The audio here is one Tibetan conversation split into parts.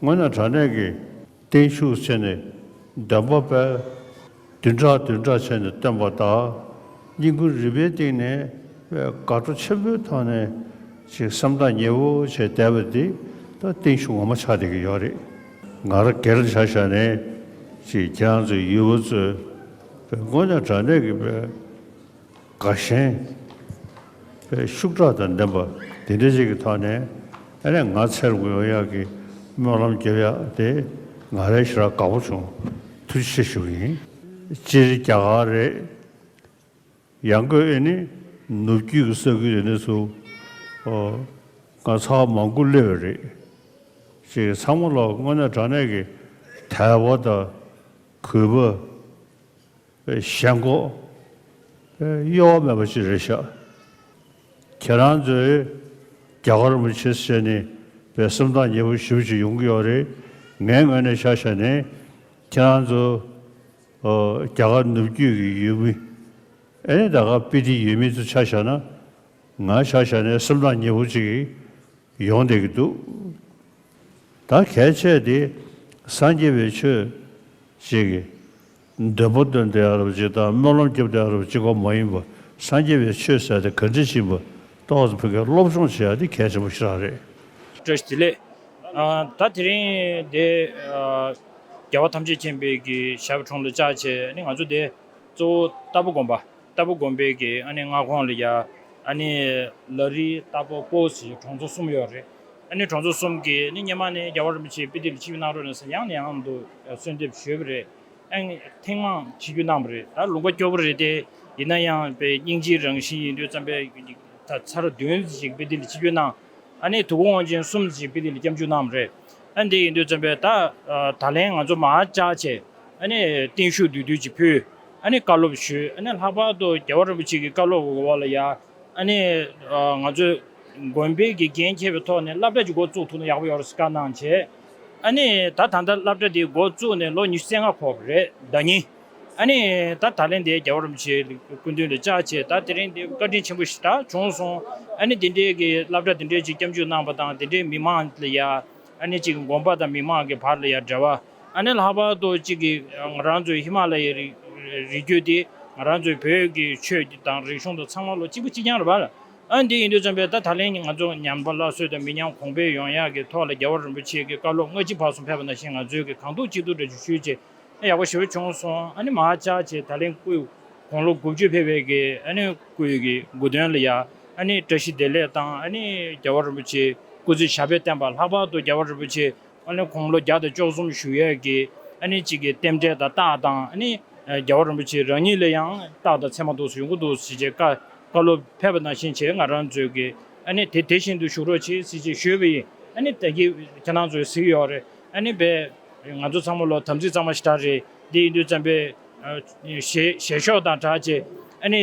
སྔོན་ན་དྲ་གནས་ཀྱི་སྟེང་ཤུགས་ཆེ་ནས་བདེན་པ་དཔལ། བདུན་ཕྲག་བདུན་ཕྲག་བྱས་ནས་སྟོན་པ་དག། སྙིང་ཁུ་རི་པའི་སྟེང་ནས་དགའ་སྤྲོ་ཆེན་པོའི་ཐོག་ནས་ཅིག་སེམས་ཐག་ཉེ་བོ་བྱས་བསྡད་པ་འདི་ད་སྟེང་ཤུགས་ངོ་མ་ཆགས་བསྡད་ཀྱི་ཡོད་རེད། ང་ར་གེར་བྱ་བཞག་ནས་ཅིག་རྒྱ་མཚོའི་ཡུལ་བ་གཙོས་པའི་སྔོན་ན་དྲ་གནས་ཀྱི་དཔལ། དགའ་ཞེན། པའི་ཤུགས་དྲག་དང་ལྡན་པ་དེ་འདྲ་ཞིག་གི་ཐོག་ནས་ཨ་ནེ་ང་ཚེར་གུ་ཡོ་ཡག་གི་སྨོན་ལམ་རྒྱབ་ཡག་དེ་ང་རེ་ཞིག་ལ་དགའ་པོ་བྱུང་ཐུགས་རྗེ་ཆེ་ཞུ་གི་ཡིན། སྤྱིར་རྒྱ་གར་རེད། ཡང་སྒོས་ཨེ་ནི་ནུབ་རྒྱུད་ཀྱི་ས་ཁུལ་དེ་འདྲ་ཚོ་ང་ཚ་བ་མང་དགུ་སླེབས་ཡོད་རེད། ཅེས་ཚང་མ་ལ་དངོས་གནས་དྲང་གནས་ཀྱི་དད་པ་དང་གུས་པ། གཞན་མགོ། གཡོ་བ་མེད་པ་ཅི་རེད་ཤག། ཁྱེད་རང་ཚོས་རྒྱ་གར་མི་ཆེད་བྱས་ནས་བའི་སེམས་ཐག་ཉེ་པོ་ཞིབ་ཅིག་ཡོང་གི་ཡོད་རེད་ངའི་ངོས་ནས་ཤག་ཤག་ནས་ཁྱེད་རང་ཚོ་རྒྱ་གར་ནུབ་རྒྱུད་ཀྱི་ཡུལ་མི་ཨནི་ད་ག་པི་ཏི་ཡུལ་མི་ཚོ་ཆ་བཞག་ན་ང་ཤག་ཤག་ནས་སེམས་ཐག་ཉེ་པོ་ཅིག་ཡོང་བསྡད་ཀྱི་འདུག་ད་གལ་ཆད་དེ་སངས་རྒྱས་པའི་ཆོས་བྱེད་ཀྱི། འདས་པོ་སྟོན་ཏེ་ཨ་རབ་ཅིག་དང་སྨོན་ལམ་སྐྱབས་ཏེ་ཨ་རབ་ཅིག་གོ་མ་ཡིན་པ་སངས་རྒྱས་པའི་ཆོས་ཟེར་ཏེ་ག་འདྲི་བཞིན་པ་ལྟོགས་ཟེར་བོད་སྐད་སློབ་སྦྱོང་བྱེད་ཡ་འདི་གལ་ཆེན་པོ་ཞིག་རང་རེད། བཀྲ་ཤིས་བདེ་ལེགས། ད་དེ་རིང་འདི་རྒྱལ་བ་ཐམས་ཅད་མཁྱེན་པའི་གི་ཞབས་དྲུང་ལ་བཅར་ཆེད་ནི་ང་ཚོ་འདི་གཙོ་བོ་རྟ་ཕོ་དགོན་པ་རྟ་ཕོ་དགོན་པའི་གི་ཨ་ནི་མངའ་ཁོངས་ལ་ཡ་ཨ་ནི་ལ་རི་རྟ་ཕོ་སྤོ་ཟི་གྲོང་ཚོ་གསུམ་ཡོད་རེད་ཨ་ནི་གྲོང་ཚོ་གསུམ་གི་ནི་སྙེ་མ་ནི་རྒྱལ་བ་རིན་པོ་ཆེའི་དཔེ་དེབ་ལ་ཕྱི་བི་ནང་རོལ་ན་ས་ཡང་ནས་ཡང་དུ་གསོལ་འདེབས་ཞུས་པ་རེད། ཨང། ཐེངས་མང་བྱེད་རྒྱུ་གནང་བ་རེད་ད་ལུང་པ་སྐྱོ་པོ་རེད་དེ། ཡིན་ན་ཡང་དཔེ་རྙིང་སྤྱིའི་རང་བཞིན་ཡིན་དུས་བརྩམས་པའི་ད་ཚར་བདུན་ཞིག་དཔེ་དེ་ལ་ཕྱི་བསྐྱོད་གནང། ཨ་ནེ་དུ་གུ་དབང་ཆེན་གསུམ་ཞིག་དཔེ་དེ་ལ་སྐྱབས་འཇུག་གནང་བ་རེད། ཨ་འདི་ཡིན་དུས་བརྩམས་པའི་ད་ད་ལན་ང་ཚོ་མ་ཅག་བྱས། ཨ་ནེ་བརྟན་བཞུགས་འདུས་སྡོད་ཅིག་ཕུལ། ཨ་ནེ་བཀའ་སློབ་ཞུས་ཨ་ནེ་ལྷག་པར་དུ་རྒྱལ་བ་རིན་པོ་ཆེ་གི་བཀའ་སློབ་འོག་ལ་ཡར་ཨ་ནི། ང་ཚོས་དགོན་པའི་དགེ་རྒན་མཁས་པའི་ཐོག་ནས་བསླབ་གྲྭ་ཅིག་འགོ་བཙུགས་ཐུབ་ན་ཡག་པོ་ཡོད་རེད་བསམ་གནང་བྱས། ཨ་ནི། ད་ད་ལྟ་བསླབ་གྲྭ་འདི་འགོ་བཙུགས་ནས་ལོ་ཉི་ཤུ་རྩེ་ལྔ་འཁོར་བ་རེད་ད་ཉིད། ཨ་ནི། ད་ད་ལན་དེའི་རྒྱལ་བ་རིན་པོ་ཆེའི་སྐུ་མདུན་ལས་བཅའ་བྱས་ད་དེ་རིང་འདི་བཀའ་དྲིན་ཆེན་པོ་ཞིག་ད་བྱུང་སོང། ཨ་ནི་འདི་འདྲའི་གི་བསླབ་གྲྭ་འདི་འདྲའི་ཅིག་སྐྱབས་འཇུག་གནང་བ་དང་འདི་འདྲའི་མི་མང་ལ་ཡང། ཨ་ནི་ཅིག་དགོན་པ་དང་མི་མང་གི་བར་ལ་ཡང་འབྲེལ་བ། ཨ་ནེ་ལྷག་པར་དུ་གཅིག་གིས་ང་རང་ཚོའི་ཧི་མ་ལ་ཡའི་རི་རྒྱུད་དེ་ང་རང་ཚོའི་བོད་ཀྱི་ཆོས་དང་རིག་གཞུང་དང་ཚང་མ་ལོ་གཅིག་པོ་གཅིག་རྐྱང་རེད་པ། ཨ་འདི་ཡིན་དུས་བརྩམས་པས་ད་ད་ལན་ང་ཚོ་ཉམས་པ་སླར་གསོས་དང་མི་ཉམས་གོང་འཕེལ་ཡོང་ཡག་གི་ཐོག་ལ་རྒྱལ་བ་རིན་པོ་ཆེ་གི་བཀའ་སློབ་ལྔ་གཅིག་བར་གསུམ་ཕེབས་པ་ནང་བཞིན་ང་ཚོའི་གི་གང་ཐུག་གཅིག་ཐུག་འདྲ་ཆུ་ཤུལ་བཅས་ཨ་ཡག་པོ་ཞེ་པོ་བྱུང་སོང་ཨ་ནེ་མ་ཅག་བཅས་ད་ལན་སྐུ་གོང་ལོ་དགུ་བཅུ་ཕེབས་པའི་གི་ཨ་ནེ་སྐུ་ཡི་གི་དགུ་དོན་ལ་ཡ་ཨ་ནེ་བཀྲ་ཤིས་བདེ་ལེགས་དང་ཨ་ནེ་རྒྱལ་བ་རིན་པོ་ཆེའི་སྐུ་ཚེ་ཞབས་པད་བརྟན་པ་ལྷག་པར་དུ་རྒྱལ་བ་རིན་པོ་ཆེ་ཨ་ནི་དགུང་ལོ་བརྒྱ་དང་བཅོ་གསུམ་བཞུགས་ཡས་ཀྱི་ཨ་ནི་གཅིག་གི་རྟེན་འབྲེལ་དང་རྟགས་དང་ཨ་ནི་རྒྱལ་བ་རིན་པོ་ཆེ་རང་ཉིད་ལ་ཡང་རྟགས་དང་མཚན་མ་འདུག་ཡོང་གི་འདུག་ཟེར་བྱས་བཀའ་སློབ་ཕེབས་པ་ནང་བཞིན་བྱས་ང་རང་ཚོའི་གི་ཨ་ནི་དེ་དེ་བཞིན་དུ་བཞུགས་རོགས་བྱས་ཟེར་བྱས་ཞུས་པ་ཡིན་ཨ་ནི་ད་གི་ཁྱེད་རང་ཚོའི་གཟིགས་ཡོག་རེད་ཨ་ནི་བས། ང་ཚོ་ཚང་མ་ལོ་དམ་ཚིག་གཙང་མ་ཞིག་གྲགས་རེད་འདི་ཡིན་དུས་བརྩམས་པའི། ཞེས་ཞལ་ཤོག་དང་གྲགས་བྱས་ཨ་ནི།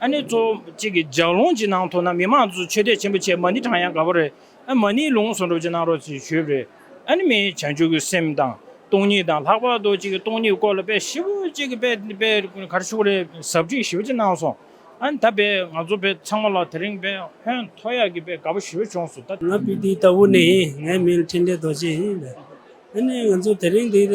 ཨ་ནེ་ཙོ་གཅིག་གི་ལྗགས་ལུང་གཅིག་ནང་ཐོག་ན་མི་མང་ཚོས་ཆོས་དད་ཆེན་པོ་བྱས་མ་ནི་དྲང་ཡང་དགའ་བོ་རེད་ཨ་མ་ནི་ལུང་ཟུང་འགྲུབ་ཅིག་གནང་རོགས་ཞེས་ཞུས་པ་རེད་ཨ་ནི་མི་བྱང་ཆུབ་ཀྱི་སེམས་དང་སྟོང་ཉིད་དང་ལྷག་པར་དུ་གཅིག་གི་སྟོང་ཉིད་སྐོར་ལ་དཔེ་ཞིབ་གཅིག་གི་དཔེ་དཔེ་གར་ཤུགས་རེ་ཟབ་ཁྲིད་ཞིབ་ཅིག་གནང་སོང་ཨ་ནི་ད་དཔེ་ང་ཚོ་དཔེ་ཚང་མ་ལ་དེ་རིང་དཔེ་ཧོན་ཐོ་ཡག་གི་དཔེ་དགའ་བོ་ཞིག་བྱུང་སོང་ད། ང་སྤི་ཏི་ལྟ་བུ་ནས་ཡིན་ངའི་མིང་འཕྲིན་ལས་རྡོ་རྗེ་ཡིན། ཨ་ནི་ང་ཚོ་དེ་རིང་འདིར།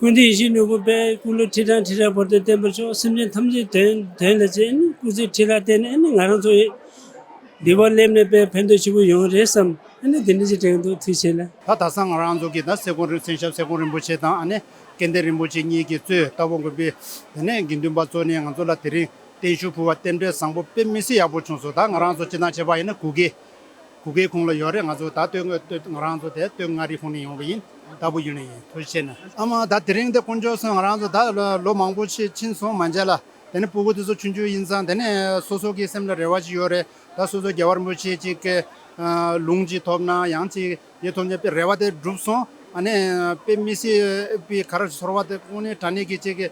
ཀུན་ཏུ་ཡེ་ཤེས་ནོར་བུ་དཔལ། སྐུ་ལུས་ཁྲི་དང་ཁྲི་རལ་བར་དུ་བརྟན་པར་ཤོག། སེམས་ཅན་ཐམས་ཅད་དོན་དོན་ལ་བྱེད། སྐུ་ཚེ་ཁྲི་རལ་བརྟན་ནས་ང་རང་ཚོ། འདི་བར་སླེབས་ནས་དཔལ་ཕན་འདོད་ཆེན་པོ་ཡོང་རེ་བསམ། དེ་ནས་ཅི་དྲན་འདུག་ཐུགས་ཆེ་ལ། ད་ད་སང་ང་རང་ཚོ་གི་ད་སེ་གོང་རིམ་མཚན་ཞབས་སེ་གོང་རིན་པོ་ཆེ་དང་ཨ་ནེ་སྐལ་ལྡན་རིན་པོ་ཆེ་གཉིས་ཀྱིས་གཙོས་རྟ་བོང་དགོན་པའི་དེ་ནས་དགེ་འདུན་པ་གཙོས་ནས་ང་ཚོ་ལ་དེ་རིང་བརྟན་བཞུགས་ཕུལ་བ་རྟེན་འབྲེལ་བཟང་པོ་དཔེ་མི་སྲིད་ཡག་པོ་བྱུང་སོ་ད་ང་རང་ཚོ་ཅི་ན་བྱས་པ་ཡིན་ན་གུ་གེ་གུ་གེའི་ཁུངས་ལ་ཡོད་རེད་ང་ཚོ་ད་ལྟོས་ངོས་ལྟོས་ང་རང་ཚོ་དེ་ལྟོས་མངའ་རིས་ཁུངས་ནས་ཡོང་བ་ཡིན་ལྟ་བུ་ཡོད་ནི་ཡིན་ཐུ་ཆེ་ན། ཨ་མ་ད་དེ་རིང་དེ་དཀོན་མཆོག་སོན་ང་རང་ཚོ་ད་ལོ་མང་པོ་ཕྱིན་ཕྱིན་སོང་མ་མཇལ་ལ་དེ་ནས་སྤུ་གུ་དེ་ཚོ་ཆུང་ཆུང་ཡིན་ཙང་དེ་ནས་སོ་སོ་གི་སེམས་ལ་རེ་བ་ཅིག་ཡོད་རེད་ད་སོ་སོ་རྒྱལ་བར་མོ་ཆེ་ཅིག་གི་ལུང་ཅིག་ཐོབ་ན་ཡང་ཅིག་ཡེ་ཐོབ་ནས་དཔེ་རེ་བ་དེ་འགྲུབ་སོང་ཨ་ནས་དཔེ་མི་སྲིད་དཔེ་ག་རེ་ཚོར་བ་དེ་དཀོན་ནས་དྲ་གནས་ཀྱི་ཅིག་གི།